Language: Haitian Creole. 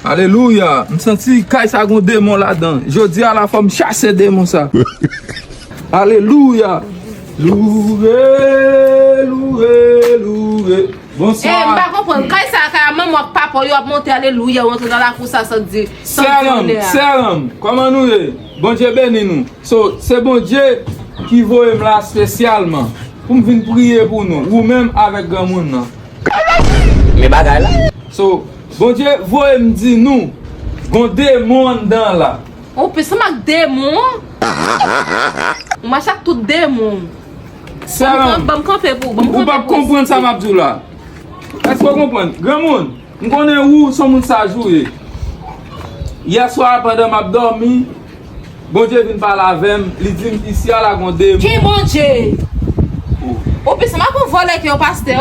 Alelouya m santi kay sa gon demon ladan jodia la fòm chase demon sa alelouya loure loure loure bonswa Eeh m pa konprann kay sa a kay a manman w ak papa w yo ap monte alelouya ou antre nan lakou sa san di sèranm sèranm kòman nou ye bondye beni nou so se bondye ki voye m la spesyalman pou m vin priye pou nou ou menm avèk granmoun nan. Kay la fini men bagay la. So. Bondye voye m di nou, gon demon anndan la. Ou plis anm ak demon an. Ou mache ak tout demon ou. Sè m, ou pap konprann sa m ap di w la. Èske ou konprann? Granmoun, m konnen ou s on moun saj ou ye. Yèswa a pandan m ap dòmi, Bondye vin pale avè m, li di m isi a la gon demon. Ki Bondye? Ou plis anm ak yon vòlè ke yon pastè.